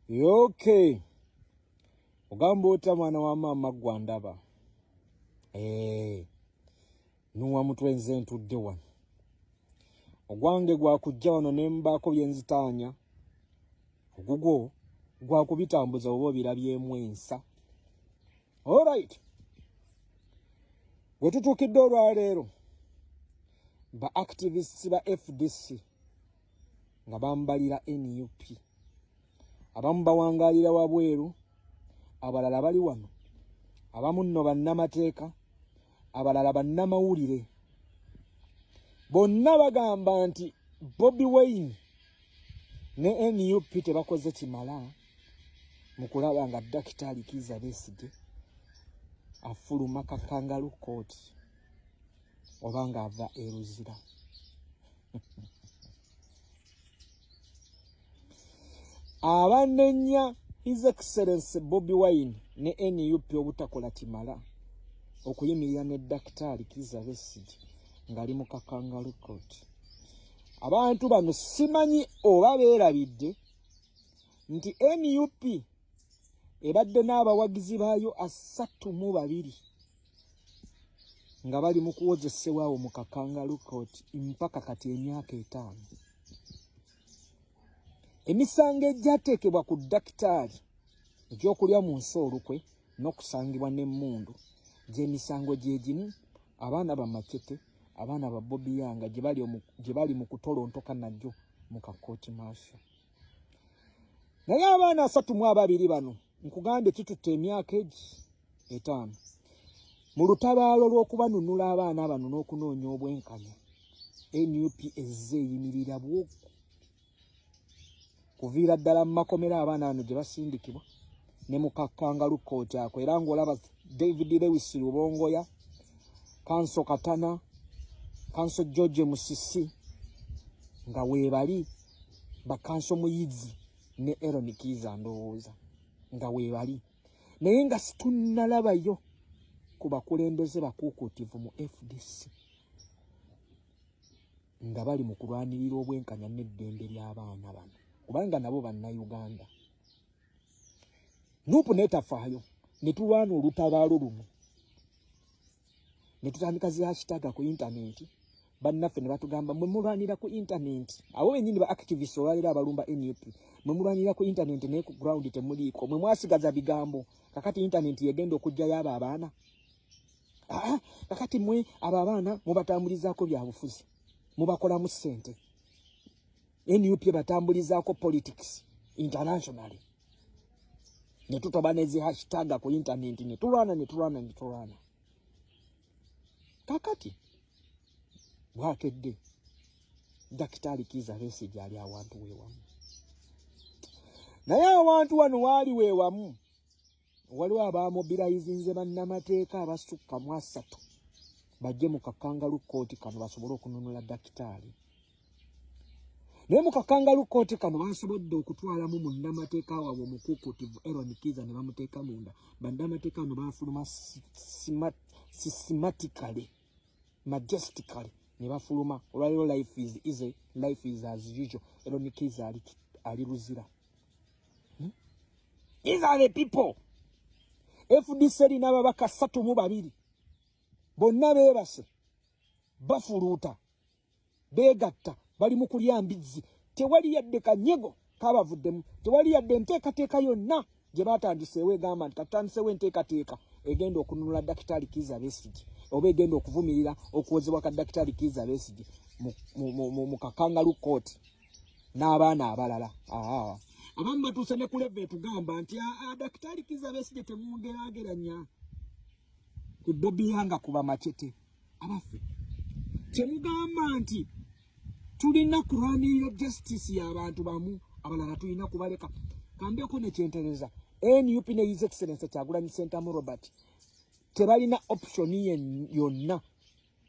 okay ogamba otya mwana wa maama gwandaba eh, nuwa mutwe nze ntudde wano ogwange gwakujja wano ne mbaako bye nzitaanya ogugwo gwakubitambuza oba obirabyemu ensa olrit gwe tutuukidde olwaleero ba activists ba fdc nga bambalira nup abamu bawangalira wabweru abalala bali wano abamu nno bannamateeka abalala bannamawulire bonna bagamba nti bobi wayne ne nup tebakoze kimala mu kulaba nga dakitaali kiiza besigye afuluma kakangalu kooti oba ng'ava eruzira abanenya his excellency bobi wine ne nup obutakola kimala okuyimirira ne dakitaali kiza besigi ng'ali mu kakangalu court abantu bano simanyi oba beerabidde nti nup ebadde n'abawagizi baayo asatu mu babiri nga bali mu kuwozesebwa awo mu kakangalu kooti mpaka kati emyaka etaano emisango egyateekebwa ku dakitaali egyokulya mu nsi olukwe n'okusangibwa n'emmundu gy'emisango gye gimu abaana bamacete abaana ba bobi yanga gye bali mu kutolontoka nagyo mu kakooti maaso naye abaana asatu mu ababiri bano nkugambye kitutte emyaka egi etaano mu lutabaalo lw'okubanunula abaana bano n'okunoonya obwenkanya nup ezze eyimirira bwoku kuviira ddala mu makomera abaana bano gye basindikibwa ne mukakkangalu kkooti ako era ng'olaba david lewis lubongoya kanso katana kanso george musisi nga weebali bakanso muyizi ne Aaron Kiza ndowooza nga weebali naye nga situnnalabayo ku bakulembeze bakuukuutivu mu FDC nga bali mu kulwanirira obwenkanya n'eddembe ly'abaana bano kubanga nabo bannayuganda nuupu netafaayo ne tulwana olutabaalo lumu ne tutandika zi hashtag ku internet bannaffe ne batugamba mwe mulwanira ku internet abo bennyini ba activist olwaleero abalumba nup mwe mulwanira ku internet naye ku ground temuliiko mwe mwasigaza bigambo kakati internet yegenda okugjayo abo abaana aa kakati mwe abo abaana mubatambulizaako byabufuzi mubakolamu ssente nup batambulizaako politics internationally ne tutoba nezi hashtag ku internet ne tulwana ne tulwana ne tulwana kakati bwakedde dakitaali kiiza beesi gyali awantu weewamu naye awantu wano waali weewamu waliwo abamobilayizinze bannamateeka abasukka mu asatu bajje mu kakangalu kkooti kano basobole okununula dakitaali naye mu kakangalu kkooti kano basobodde okutwalamu munnamateeka waabwe omukukutivu eron kiza ne bamuteeka munda bannamateeka bano bafuluma systematically majestically ne bafuluma olwaliro life is easy life is as usual eron kiza ali luzira ali Hmm? These are the people. FDC erina ababaka ssatu mu babiri bonna beebase bafuluuta beegatta bali mu kulya mbizzi tewali yadde kanyego kabavuddemu tewali yadde enteekateeka yonna gye baatandiseewo egamba nti katutandiseewo enteekateeka egenda okununula dakitaali kiiza besigi oba egenda okuvumirira okuwozebwa ka dakitaali kiiza besigi mu kakangalu kooti n'abaana abalala abamu batuuse ne kuleva etugamba nti dakitaali kiza besigye temumugerageranya ku bobiyanga kuba macete abaffe kyemugamba nti tulina kulwanirira justice y'abantu bamu abalala tulina kubaleka kambeko nekyentereza nup ne his excellence kyagulanyi sentamu robert tebalina option yonna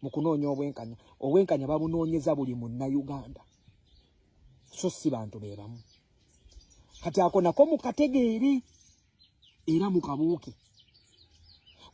mu kunoonya obwenkanya obwenkanya babunoonyeza buli munnayuganda so si bantu be bamu kati ako nako mukategeere era mukabuuke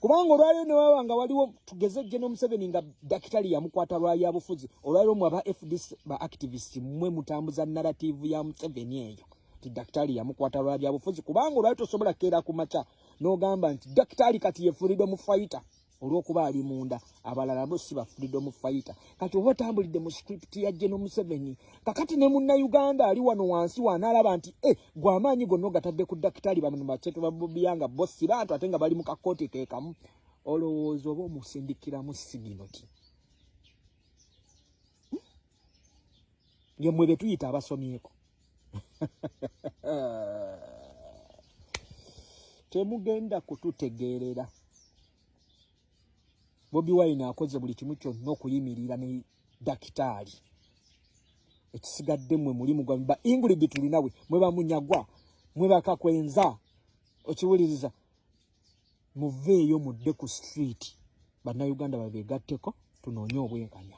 kubanga olwaliro ne waba nga waliwo tugeze jje n'omuseveni nga dakitali yamukwata lwali abufuzi olwaliro mwe aba fdc ba activist mwe mutambuza narrative ya museveni eyo ti dakitali yamukwata lwali abufuzi kubanga olwali tosobola keera ku makya n'ogamba nti dakitali kati ye freedom fighter olwokuba ali munda abalala bo si ba freedom fighter kati oba otambulidde mu script ya geno museveni kakati ne munna uganda ali wano wansi wanaalaba nti e eh, gwe amaanyi gonna ogatadde ku dakitaali bamno baceto babobiyanga bo si bantu ate nga bali mu kakooti keekamu olowooza oba omusindikiramu siginoti nge mwe betuyita abasomyeko temugenda kututegeerera bobi wine akoze buli kimu kyonna okuyimirira ne dakitaali ekisigadde mwe mulimu gwamwe ba ingrid tulinawe mwe bamunyagwa mwe bakakwenza okiwuliriza muveeyo mudde ku street bannayuganda babeegatteko tunoonye obwenkanya